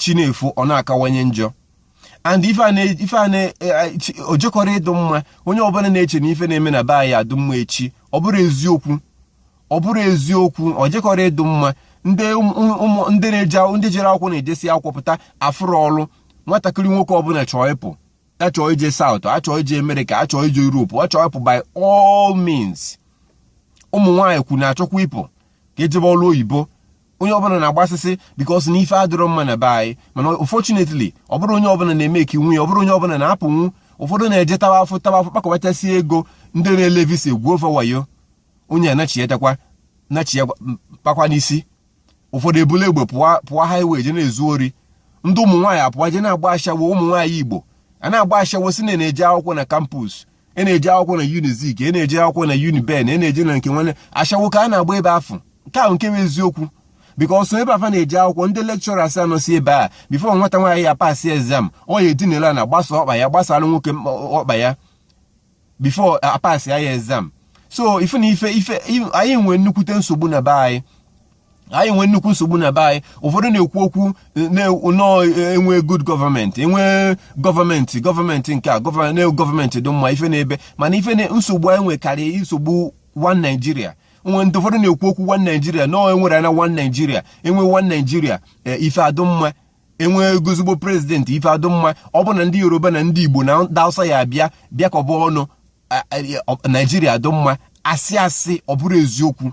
chi na-efo ọ na-akawanye njọ and ife a na o jekọrọ e, ịdụ mma onye ọbụla na-eche na ife na-eme na be anyị adụ mma echi ọ bụrọ eziokwu ọ bụrọ eziokwu o jekọrọ ịdụ mma ndị ụmụ ndị na-eje ndị jere akwụkwọ na-ejesị akwụkwọ pụta afụrọ ọrụ nwatakịrị nwoke ọbụla chọọ ịpụ a chọọ ije South a chọọ ije America a chọọ ije Europe a chọọ ịpụ by all means ụmụ nwaanyị kwu na-achọkwa ịpụ ka e jebe ọrụ oyibo onye ọbụla na-agbasịsị because na ife adịrọ mma na be anyị mana unfortunately ọ bụrọ onye ọbụla na-emakenwu ya ọ bụrọ onye ọbụla na-apụnwu ụfọdụ na-eje tawa afụfụ tawa afụfụ kpakọbachasị ego ndị na-ele visa egwuo fa wayo onye anachiatakwa nachia kpakwa n'isi ụfọdụ ebule egbe pụọ pụọ highway je na-ezu ori ndị ụmụ nwaanyị apụọ je na-agba ashawo ụmụ nwaanyị igbo a na-agba ashawo sị na a na-eje akwụkwọ na campus a na-eje akwụkwọ na Unizik a na-eje akwụkwọ na Uniben a na-eje na nke nwanne ashawo ka a na-agba ebe afụ nke ahụ nke bụ eziokwu because ebe afụ a na-eje akwụkwọ ndị lecturers a nọsị ebe a before nwata nwaanyị ya-apasị exam ọ ya-edinelị ana gbasa ọkpa ya gbasara nwoke ọkpa ya before a pasị ya ya exam so ife na ife ife anyị nwere nnukwute nsogbu na be anyị anyị nwee nnukwu nsogbu na be anyị ụfọdụ na-ekwu okwu na e nwee good government e nwee government government nke a na government dị mma ife na-ebe mana ife na nsogbu anyị nwe karịa nsogbu one Nigeria o nwe ndị ụfọdụ na-ekwu okwu one Nigeria na e nwere na one Nigeria e nwee one Nigeria eh, ife adụ mma e nwego ezigbo president ife adụ mma ọ bụ na ndị yoruba na ndị igbo na ndị hausa ya abịa bịakọba ọnụ Nigeria adụ mma asị asị ọ bụrọ eziokwu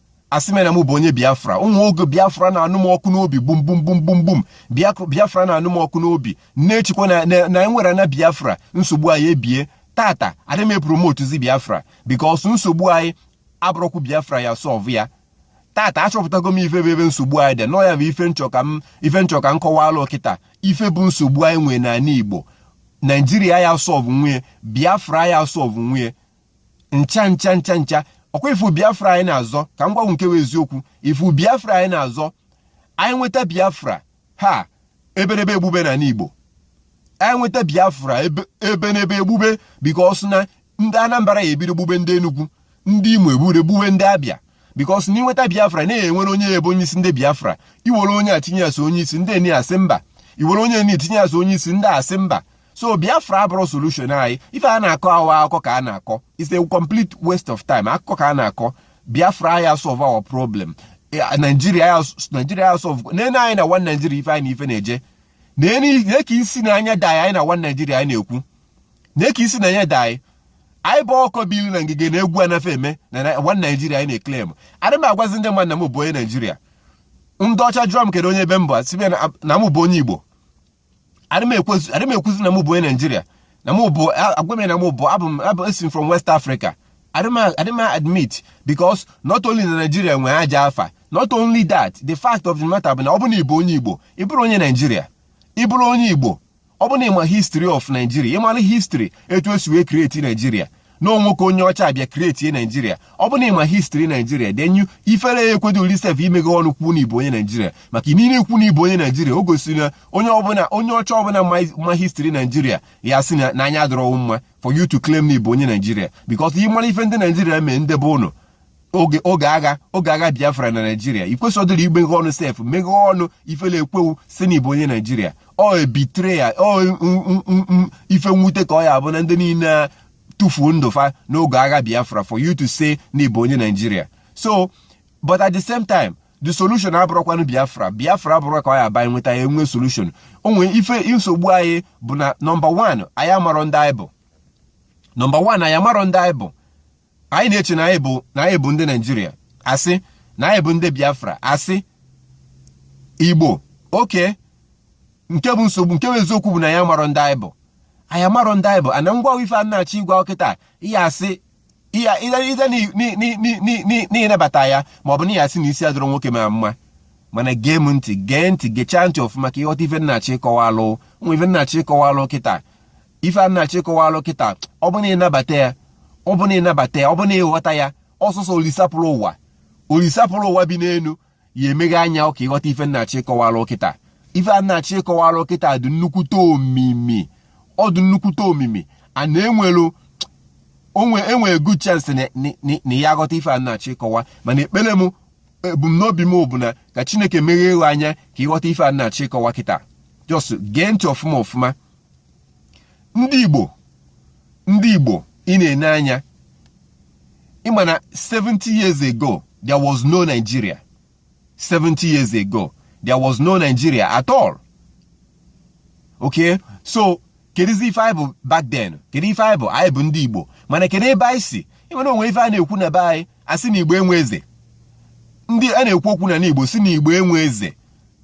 asị m na m bụ onye biafra o nwee oge biafra na-anụ m ọkụ n'obi gbum gbum gbum gbum gbum biafra na-anụ m ọkụ n'obi na-echekwa na e nwere na biafra nsogbu anyị ebie tata adị m apromotezi biafra because nsogbu anyị abụrọkwu biafra ya solve ya tata achọpụtago m ife bụ ebe nsogbu anyị dị na ọ ya bụ ife m chọ ka m ife m chọ ka m kọwalụ kịta ife bụ nsogbu anyị nwee n'ala igbo Nigeria ya solve nwu ya biafra ya solve nwu ya ncha ncha ncha ncha ọkwa ị fụ biafra anyị na-azọ ka m gwa unu nke bụ eziokwu ị fụ biafra anyị na-azọ anyị nweta biafra a ibe n'ibe egbube n'ana igbo anyị nweta biafra ibe n'ibe egbube because na ndị anambra ya ebido gbube ndị enugwu ndị imo ebido gbube ndị Abia because na i nweta biafra na-ewere onye ebe onye isi ndị biafra i were onye a tinye ya sị ọ onye isi ndị eni asị mba i were onye eni tinye ya sị ọ onye isi ndị asị mba so biafra abụrọ solution anyị ife a na-akọ awa akụkọ ka a na-akọ it's a complete waste of time akụkọ ka a na-akọ biafra ya solve our problem eh, nigeria ya solve nene anyị na one nigeria ife anyị na ife na-eje na ka isi na anya dị anyị na one nigeria anyị na-ekwu na ka isi na anya dị anyị bụ ọkụkọ belu na ngige na egwu anafe eme na one nigeria anyị na-eclaim adị m agwazi ndị mmadụ na m bụ onye nigeria ndị ọcha jụọ m kedu onye ebe m bụ na m bụ onye igbo adị m ekwuzi na m bụ onye nigeria na mụ bụ agwa m na mụ bụ abụ m abụ esi from west africa adị m admit because not only na nigeria nwee ajọ afa not only that the fact of the matter bụ na ọ bụ na ị bụ onye igbo ị bụrụ onye nigeria ị bụrụ onye igbo ọ bụ na ị ma history of nigeria ị mara history etu e si wee create nigeria na ọ nwoke onye ọcha bịa create nigeria ọ bụrụ na ị ma history nigeria then ifere ya ekwedu wụ sef imeghe ọnụ kwuo na ị bụ onye nigeria maka gịnị ikwu na ị bụ onye nigeria o gosiri na onye ọbụla onye ọcha ọbụla ma history nigeria ya asị na anya adịrọ wụ mma for you to claim na ị bụ onye nigeria because ị mara ife ndị nigeria mee ndị be ụnụ oge oge agha oge agha biafra na nigeria i kwesịrọ imeghe ọnụ sef meghe ọnụ ifele ekwe wụ sị na ị bụ onye nigeria ọ betrayal ọ ife nwute ka ọ ya abụ na ndị niile tufuo ndụ fa n'oge agha biafra for you to say na ị bụ onye nigeria so but at the same time the solution abụrọkwanụ biafra biafra abụrọ ka ọ ya abụ anyị nweta ya enwe solution o nwe ife nsogbu anyị bụ na nọmba 1 anyị amarọ ndị anyị bụ nọmba 1 anyị amarọ ndị anyị bụ anyị na-eche na anyị bụ na anyị bụ ndị nigeria asị na anyị bụ ndị biafra asị igbo okay nke bụ nsogbu nke bụ eziokwu bụ na anyị amarọ ndị anyị bụ anyị amarọ ndị anyị bụ ana ngwa ife m na-achọ ịgwa wụ kịta ị ya asị ihe ide na ị nabata ya ma ọ bụ na ị ya asị na isi adịrọ nwoke a mma mana gee m ntị gee ntị gechaa ntị ọfụma ka ị ghọta ife m na-achọ ịkọwalụ nwa ife m na-achọ ịkọwalụ kịta ife m na-achọ ịkọwalụ kịta ọ bụ na ị nabata ya ọ bụ na ị nabata ya ọ bụ na ị ghọta ya ọ sọsọ olisa bulu ụwa olisa bulu ụwa bi n'elu ya emeghe anya ka ị ghọta ife m na-achọ ịkọwalụ kịta ife m na-achọ ịkọwalụ kịta dị nnukwute omimi ọ dị nnukwute omimi a na-enwelu o nwe e nwe good chance na ị ya aghọta ife m na-achọ ịkọwa mana ekpere m ebumnobi m bụ na ka chineke meghee anya ka ị ghọta ife m na-achọ ịkọwa kịta just gee ntị ọfụma ọfụma ndị Igbo ndị Igbo ị na-ene anya ị ma na 70 years ago there was no Nigeria 70 years ago there was no Nigeria at all okay so kedụzi ife anyị bụ back then kedu ife anyị bụ anyị bụ ndị Igbo mana kedu ebe anyị si ị ma na o nwe ife a na-ekwu na be anyị a sị na Igbo enwe eze ndị a na-ekwu okwu na n'Igbo sị na Igbo enwe eze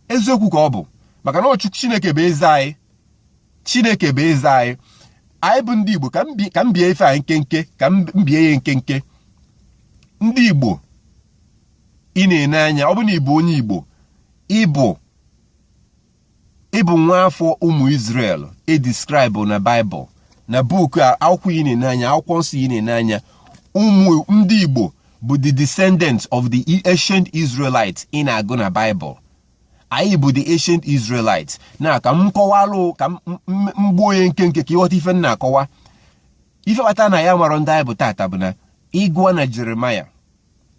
eziokwu ka ọ bụ maka na ọ Chu Chineke bụ eze anyị chineke bụ eze anyị anyị bụ ndị igbo ka m bie ife anyị nkenke ka m bie ya nkenke ndị igbo ị na-ene anya ọ bụ na ịbụ onye igbo ịbụ ịbụ nwa afọ ụmụ Israel e describelụ na Bible na book akwụkwọ ị na-ene anya akwụkwọ nsọ ị na-ene anya ndị igbo bụ the descendants of the ancient Israelites ị na-agụ na Bible anyị bụ the ancient Israelites na ka m kọwalụ ka m gbuo ya nkenke ka ị ghọta ife m na-akọwa ife kpata na anyị amarọ ndị anyị bụ tata bụ na ị gụọ na Jeremiah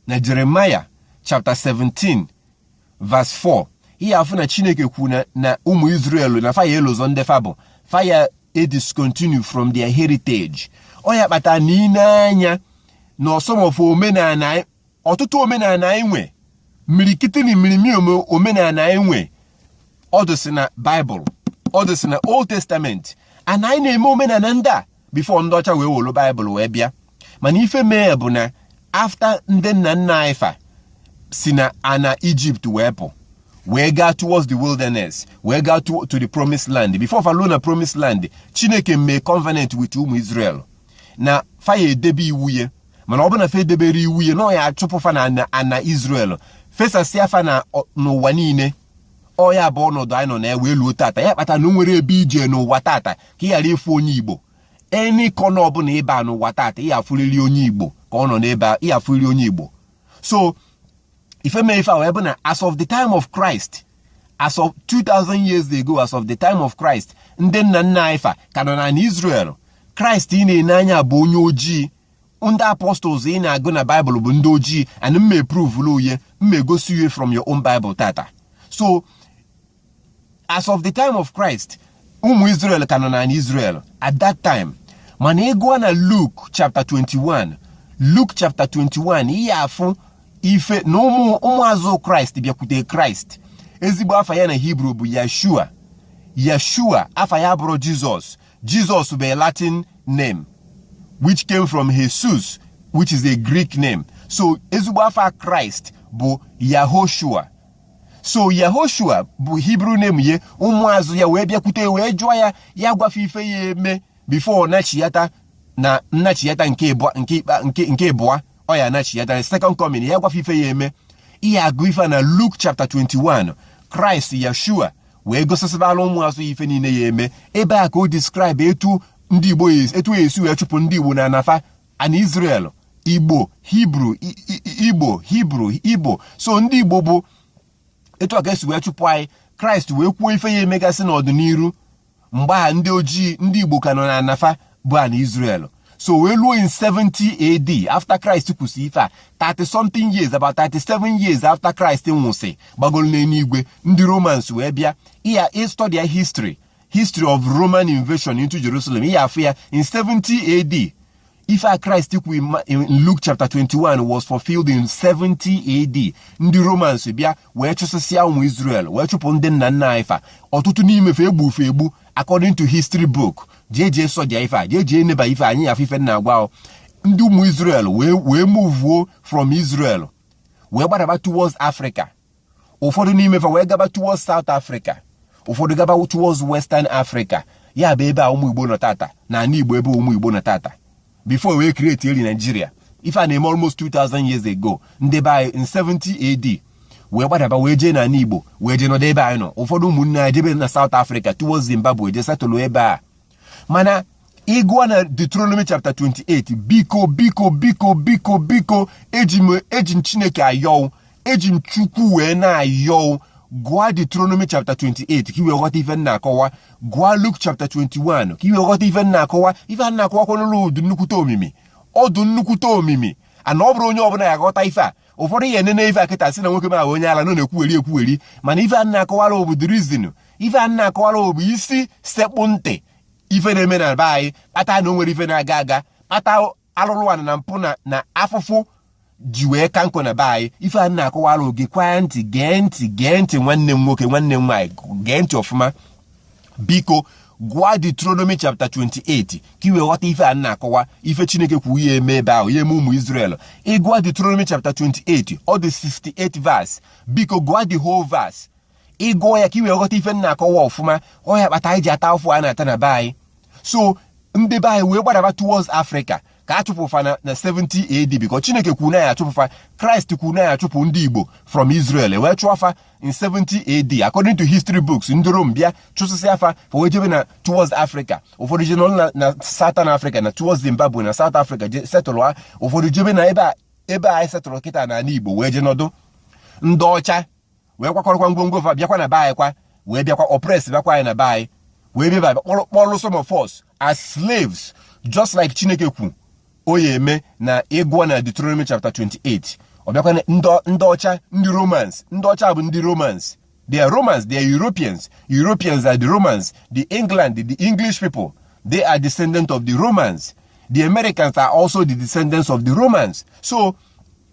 na Jeremiah chapter 17 verse 4 ị ya-afụ na Chineke kwu na ụmụ Israel na fa ya-elozọ ndị fa bụ fa ya-ediscontinue from their heritage ọ ya kpata na ị nee anya na some of omenala ọtụtụ omenala anyị nwe imirikiti na imirimi omenala anyị nwe ọ dụsị na Bible ọ dụsị na Old Testament and anyị na-eme omenala ndị a before ndị ọcha wee welu Bible wee bịa mana ife mee bụ na after ndị nna nna anyị fa si na ana Egypt wee pụ wee gaa towards the wilderness wee gaa to, to the promised land before fa luo na promised land chineke mee covenant with ụmụ israel na fa ya-edebe iwu ya mana ọ bụ na fa edeberọ iwu ya na ọ ya-achụpụ fa na ana Israel fesasịa fa na n'ụwa niile ọ ya bụ ọnọdụ anyị nọ na ya wee luo tata ya kpata na o nwerọ ebe ị je n'ụwa tata ka ị ghara ịfụ onye Igbo any corner ọbụla ị ba n'ụwa tata ị ya-afụrịrị onye Igbo ka ọ nọ n'ebe ị ya-afụrịrị onye Igbo so ife mee ife a wee bụ na as of the time of Christ as of 2000 years ago as of the time of Christ ndị nna nna anyị fa ka nọ na Israel Christ ị na-ene anya bụ onye ojii ndị apostles ị na-agụ na Bible bụ ndị ojii and m ma-eprovulu u ye m ma-egosi u ye from your own Bible tata so as of the time of Christ ụmụ Israel ka nọ na Israel at that time mana ị gụọ na Luke chapter 21 Luke chapter 21 ị ya-afụ ife na ụmụazụ Christ bịakwute Christ ezigbo afa ya na Hebrew bụ yeshua yeshua afa ya abụrọ Jesus Jesus bụ a latin name which came from Iesous which is a greek name so ezigbo afa Christ bụ yahoshua so yahoshua bụ Hebrew name ya ụmụazụ ya wee bịakwute wee jụọ ya ya gwa fa ife ya-eme before nachiyata na nnachiyata nke ịbụa ọ ya-anachiyata second coming ya gwa fa ife ya-eme ị ya-agụ ife na Luke chapter 21 Christ Yeshua wee gosisibala ụmụazụ ya ife niile ya-eme ebe a ka o describe etu ndị Igbo etu a ya-esi wee chụpụ ndị Igbo na ana fa ana Israel Igbo Hebrew Igbo Hebrew Igbo so ndị Igbo bụ etu a ka e si wee chụpụ anyị Christ wee kwuo ife ya-emegasị n'ọdịniru mgbe a ndị ojii ndị Igbo ka nọ na ana fa bụ ana Israel so wee luo in 70 AD after Christ kwusị ife a 30 something years about 37 years after Christ nwụsị gbagolu n'eluigwe ndị Romans wee bịa ị studya history history of Roman invasion into Jerusalem ị ya-afụ ya in 70 AD ife a Christ kwu in Luke chapter 21 was fulfilled in 70 AD ndị romans bịa wee chụsịsịa ụmụ Israel wee chụpụ ndị nna nna anyị fa ọtụtụ n'ime fa egbu fa egbu according to history book jee jee searchịa ife a jee jee neba ife anya ị ya-afụ ife m na-agwa ndị ụmụ Israel wee wee muvuo from Israel wee gbadaba towards Africa ụfọdụ n'ime fa wee gaba towards South Africa ụfọdụ gaba towards Western Africa ya bụ ebe a ụmụ Igbo nọ tata na ana Igbo ebe ụmụ Igbo nọ tata before wee create eri Nigeria ife a na-eme almost 2000 years ago ndị be anyị in 70 AD wee gbadaba wee jee na ana Igbo wee jee nọdụ ebe anyị nọ ụfọdụ ụmụnne anyị jebe na South Africa towards Zimbabwe jee settle ebe a mana ị gụọ na Deuteronomy chapter 28 biko biko biko biko biko eji m Chineke ayọ ụ eji m Chukwu wee na-ayọ ụ gụọ Deuteronomy chapter 28 ka i wee ghọta ife m na-akọwa gụọ Luke chapter 21 ka i wee ghọta ife m na-akọwa ife a na-akọwakwanụlụ ọ dụ nnukwute omimi ọ dụ nnukwute omimi and ọ bụrọ onye ọbụla ya-aghọta ife a ụfọdụ ya-enene ife a kịta sị na nwoke m a onye ala na ọ na-ekwugheri ekwugheri mana ife a na-akọwara ụ bụ the reason ife a m na-akọwara bụ isi sekpụ ntị ife na-eme na be anyị kpata na o nwerọ ife na-aga aga kpata alụlụ ana na mpụ na afụfụ ji wee ka nkụ na be anyị ife a na-akọwara ụ gekwaa ntị gee ntị gee ntị nwanne m nwoke nwanne m nwaanyị gee ntị ọfụma biko gụọ Deuteronomy chapter 28 ka i wee ghọta ife a na-akọwa ife Chineke kwu ọ ya-eme ebe ahụ ya-eme ụmụ Israel ị gụọ Deuteronomy chapter 28 ọ dị 68 verse biko gụọ the whole verse ị gụọ ya ka ị wee ghọta ife m na-akọwa ọfụma ọ ya kpata anyị ji ata afụfụ a na-ata na be anyị so ndị be anyị wee gbadaba towards Africa ka a chụpụ fa na 70 AD because Chineke kwuru na ya-achụpụ fa Christ kwuru na ya-achụpụ ndị Igbo from Israel wee chụọ fa in 70 AD according to history books ndị Rome bịa chụsịsịa fa fa wee jebe na towards Africa ụfọdụ jee nọ na Southern Africa na towards Zimbabwe na South Africa jee settle ha ụfọdụ jebe na ebe a ebe anyị settle kịta n'ala Igbo wee jee nọdụ ndị ọcha wee kwakọrọkwa ngwongwo fa bịakwa na be anyị kwa wee bịakwa oppress bịakwa anyị na be anyị wee bịa kpọrọ kpọrọ some of us as slaves just like chineke kwu ọ ya-eme na ị gụọ na Deuteronomy chapter 28 ọ bụkwa ndị ọcha ndị romans ndị ọcha bụ ndị romans they are romans they are europeans europeans are the romans the england the english people they are descendants of the romans the americans are also the descendants of the romans so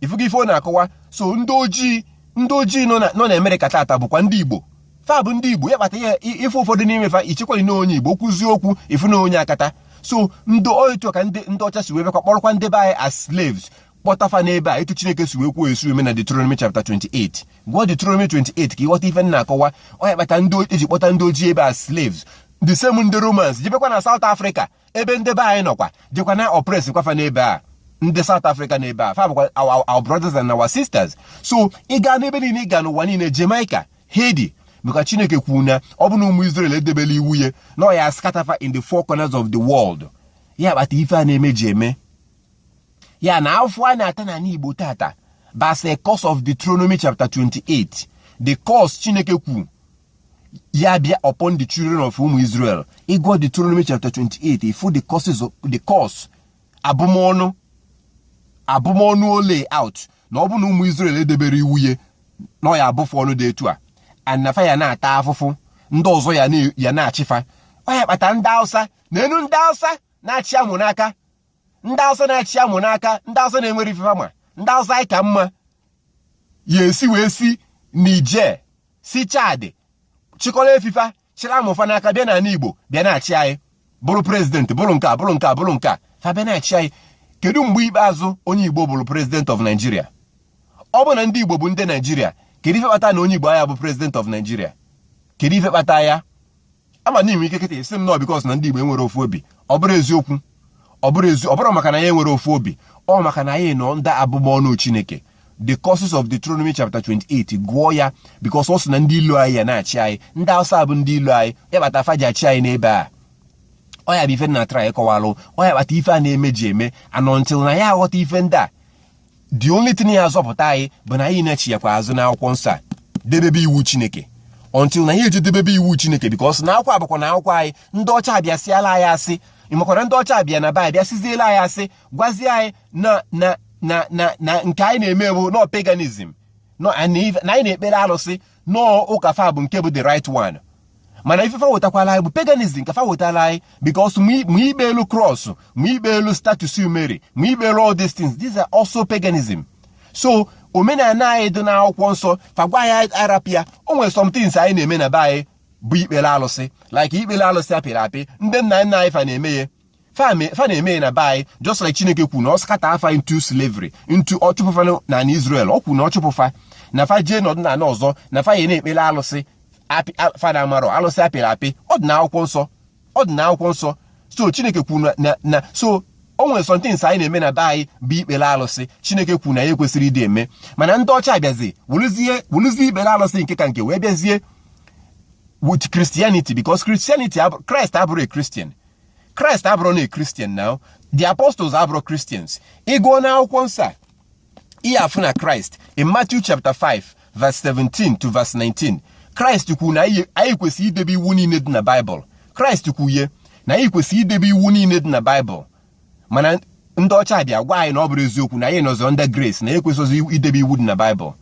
ifugo ife ọ na-akọwa so ndị ojii ndị ojii nọ na Amerịka tata bụkwa ndị Igbo fa bụ ndị Igbo ya kpata ị fụ ụfọdụ n'ime fa ichekwali na onye Igbo kwuzie okwu ị fụ na onye akata so ndị ọ etu a ka ndị ọcha si wee bịakwa kpọrọkwa ndị be anyị as slaves kpọta fa n'ebe a etu Chineke si wee kwuo esi eme na Deuteronomy chapter 28 gụọ Deuteronomy 28 ka ị ghọta ife m na-akọwa ọ ya kpata ndị eji kpọta ndị ojii ebe a as slaves the same ndị Romans jebekwa na South Africa ebe ndị be anyị nọkwa jekwa na-oppress kwa fa n'ebe a ndị South Africa n'ebe a fa bụkwa our brothers and our sisters so ị gaa n'ebe niile ị gaa n'ụwa niile Jamaica Haiti maka Chineke kwuru na ọ bụ na ụmụ Israel edebela iwu ya na ọ ya scatter fa in the four corners of the world ya kpata ife a na-eme ji eme ya na afụfụ a na-ata n'ala Igbo tata that's a curse of Deuteronomy chapter 28 the curse Chineke kwuru ya bịa upon the children of ụmụ Israel ị gụọ Deuteronomy chapter 28 ị fụ the curses of the curse abụmọnụ abụmọnụ o lay out na ọ bụ na ụmụ Israel edebere iwu ya na ọ ya abụ fa ọnụ dị etu a and na fa ya na-ata afụfụ ndị ọzọ ya na-achị fa ọ ya kpata ndị Hausa na enu ndị Hausa na-achị amụ n'aka ndị awụsa na-achị amụ n'aka ndị awụsa na-enwere ife fa ma ndị awụsa anyị ka mma ya esi wee si Niger si Chad chịkọrọ efi fa chịrị amụ fa n'aka bịa n'ala igbo bịa na-achị anyị bụrụ president bụrụ nke a bụrụ nke a bụrụ nke a fa bịa na-achị anyị kedu mgbe ikpeazụ onye igbo bụrụ president of Nigeria ọ bụ na ndị igbo bụ ndị Nigeria kedu ife kpata na onye igbo aya abụ president of Nigeria kedu ife kpata ya ama na i nwee ike kịta ị sị m no because na ndị Igbo enwere ofu obi ọ bụrọ eziokwu ọ bụrọ ezi ọ bụrọ maka na anyị enwere ofu obi ọ maka na anyị nọ under abụmọnụ Chineke the curses of Deuteronomy chapter 28 gụọ ya because ọ sị na ndị ilo anyị ya na-achị anyị ndị Hausa bụ ndị ilo anyị ya kpata fa ji achị anyị n'ebe a ọ ya bụ ife m na-try ịkọwalụ ọ ya kpata ife a na-eme ji eme and until na anyị aghọta ife ndị a the only thing ya azọpụta anyị bụ na anyị na-echighakwa azụ n'akwụkwọ nsọ a debebe iwu chineke until na anyị eje debebe iwu chineke because na akwụkwọ a bụkwanụ akwụkwọ anyị ndị ọcha abịa sịala anyị asị ịmakwara ndị ọcha abịa na be anyị bịa sịziela anyị asị gwazie anyị na na na na na nke anyị na-eme bụ na ọ paganism na anyị na-ekpere alụsị na ọ ụka fa bụ nke bụ the right one mana ife fa wetakwala anyị bụ paganism ka fa wetala anyị because ma ikpelu cross ma ikpelu statues Mary ma ikpelu all these things these are also paganism so omenala anyị dị n'akwụkwọ nsọ fa gwa anyị a rapụ ya o nwere some things anyị na-eme na be anyị bụ ikpere alụsị like ikpere alụsị a pịrị apị ndị nna nna anyị fa na-eme ya fa na-eme ya na be anyị just like chineke kwu na ọ scatter fa into slavery into ọ chụpụ fa na na Israel ọ kwu na ọ chụpụ fa na fa jee n'ọdịnala ọzọ na fa ya na-ekpere alụsị fa na-amarọ alụsị apịrị apị ọ dị na akwụkwọ nsọ ọ dị na akwụkwọ nsọ so chineke kwu na na so o nwere some things anyị na-eme na be anyị bụ ikpere alụsị chineke kwu na anyị ekwesịrọ ịdị eme mana ndị ọcha abịazi welụzie ikpere alụsị nke ka nke wee bịazie with Christianity because Christianity Christ abụrọ a Christian kraịst abụrọ na a Christian na the apostles abụrọ Christians ị gụọ na akwụkwọ nsọ ị ya-afụ na kraịst in matthew chapter 5 verse 17 to verse 19 kraịst kwuru na anyị kwesịrị idebe iwu niile dị na baịbụl kraịst kwuye na anyị kwesịrị idebe iwu niile dị na baịbụl mana ndị ọcha bịa gwa anyị na ọ bụrọ eziokwu na anyị nọzi under grace na anyị ekwesịrọ idebe iwu dị na baịbụl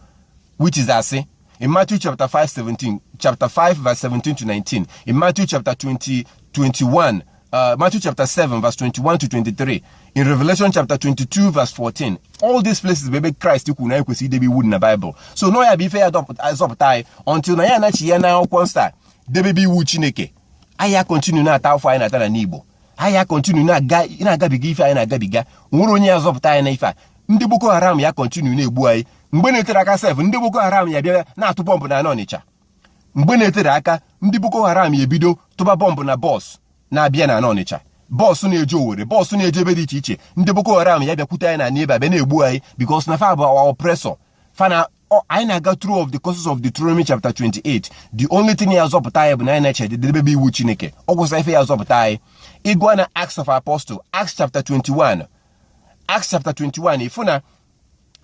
which is asị In Matthew chapter 5, 17, chapter 5, verse 17 to 19. In Matthew chapter 20, 21. Uh, Matthew chapter 7, verse 21 to 23. In Revelation chapter 22, verse 14. All these places bụ ebe Christ kwu na anyị kwesị idebe iwu dị na Bible. So no ya bụ ife ya-azọpụta anyị until na anyị anachiya na akwụkwọ nsọ debebe iwu Chineke. Anyị ya continue na-ata afụfụ anyị na-ata na n'Igbo. Anyị ya continue na-agabiga ife anyị na-agabiga. O nwerọ onye ya-azọpụta anyị na ife a. Ndị Boko Haram ya continue na-egbu anyị. mgbe na-eterọ aka sef ndị boko haram ya-abịa na-atụ bọmbụ na n'ọnịcha mgbe na-eterọ aka ndị boko haram ya-ebido tụba bọmbụ na bọs na-abịa na n'ọnịcha bọọsụ na-eje owere bọọsụ na-eje ebe dị iche iche ndị boko haram ya-abịakwute anyị na n'ebe a bịa na-egbu anyị because na fa bụ our oppressor fana anyị na-aga through all the curses of Deuteronomy chapter 28 the only thing ya-azọpụta anyị bụ na anyị nachie debebe iwu Chineke ọ gwụsịa ife ya-azọpụta anyị ị gụọ na Acts of Apostle Acts chapter 21 Acts chapter 21 ị fụ na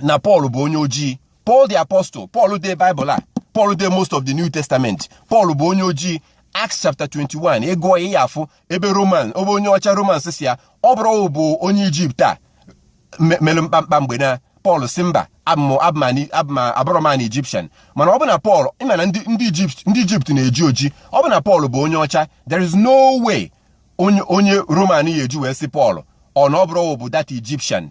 na Pọl bụ onye ojii Paul the apostle Paul dee Bible a Paul dee most of the New Testament Paul bụ onye ojii Acts chapter 21 ị gụọ ya ị ya-afụ ebe Roman ebe onye ọcha Roman sị ya ọ bụrọ ị bụ onye Ijipt a mere mkpamkpa mgbe na Pọl sị mba abụrọ m an Egyptian mana ọ bụ na Pọl ị ma na ndị Ijipt ndị Ijipt na-eji oji ọ bụ na Pọl bụ onye ọcha there is no way onye Roman ya-eji wee sị Pọl ọ na ọ bụrọ ị bụ that Egyptian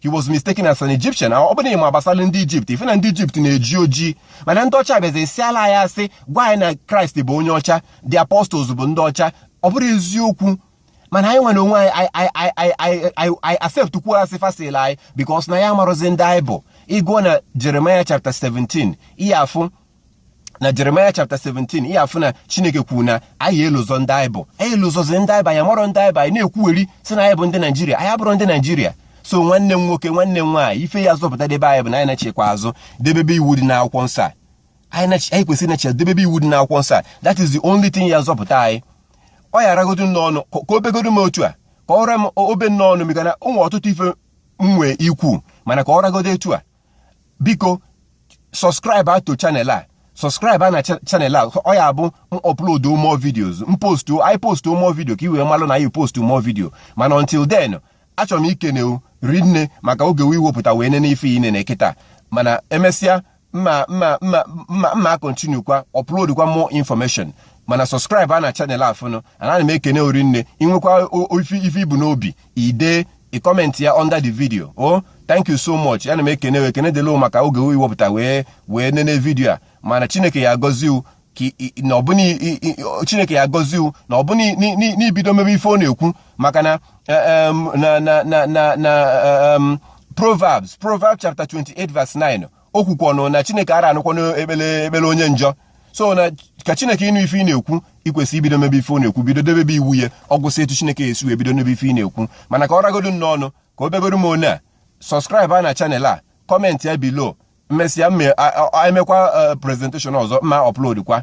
he was mistaken as an Egyptian ọ bụrụ na ị ma gbasara ndị Ijipt ị fụ na ndị Ijipt na-eji ojii mana ndị ọcha bịazi sịala anyị asị gwa anyị na Kraịst bụ onye ọcha the apostles bụ ndị ọcha ọ bụrọ eziokwu mana anyị nwa n'onwe anyị anyị accept kwuo asị fa sịalụ anyị because na anyị amarọzi ndị anyị bụ ị gụọ na Jeremiah chapter 17 ị ya-afụ na Jeremiah chapter 17 ihe afụ na chineke kwuru na anyị elozọ ndị anyị bụ anyị elozọzi ndị anyị bụ anyị amarọ ndị anyị bụ anyị na-ekwuwezi sị na anyị bụ ndị naijiria anyị abụrọ ndị naijiria so nwanne m nwoke nwanne m nwaanyị ife ya-azọpụta ndị be anyị bụ na anyị nachikwa azụ debebe iwu dị n'akwụkwọ nsọ a anyị kwesịrị ịnachi debebe iwu dị n'akwụkwọ nsọ a that is the only thing ya-azọpụta anyị ọ ya-aragodu n'ọnụ ka o begodu m otu a ka ọ ra m obe n'ọnụ maka na ụmụ ọtụtụ ife m nwee ikwu mana ka ọ ragodu etu a biko subscribe a to channel a subscribe a na channel a ọ ya-abụ m upload more videos m post i post more video ka i wee malụ na anyị post more video mana until then achọrọ m ikene wu rinne maka oge i wepụta wee nene ife ị na-ene kịta mana emesịa mma mma mma mma mma kontinu kwa upload kwa more information mana subscribe a na channel afụnụ ana m ekene wu rinne i nwekwa ife i bu n'obi i de i comment ya under the video o oh, thank you so much ana m ekene wu ekene daalụ maka oge i wepụta wee nene video a mana chineke ya-agọzi wu na ọ bụ na chineke ya-agọzi wu na ọ bụ na i bido mebe ife ọ na-ekwu maka na eh, na na na na Proverbs, Proverbs chapter 28, verse 9. o kwukwanụ na chineke ara anụkwanụ ekpele onye njọ so na ka chineke ịnụ ife ị na-ekwu i kwesị ibido mebe ife ọ na-ekwu bido debebe iwu ya ọ gwụsị etu chineke ya-esi wee bido nụbe ife ị na-ekwu mana ka ọ ragodu n'ọnụ ka o begoro m one a subscribe a na channel a comment ya below m mesịa emekwa eh, presentation ọzọ ma upload kwa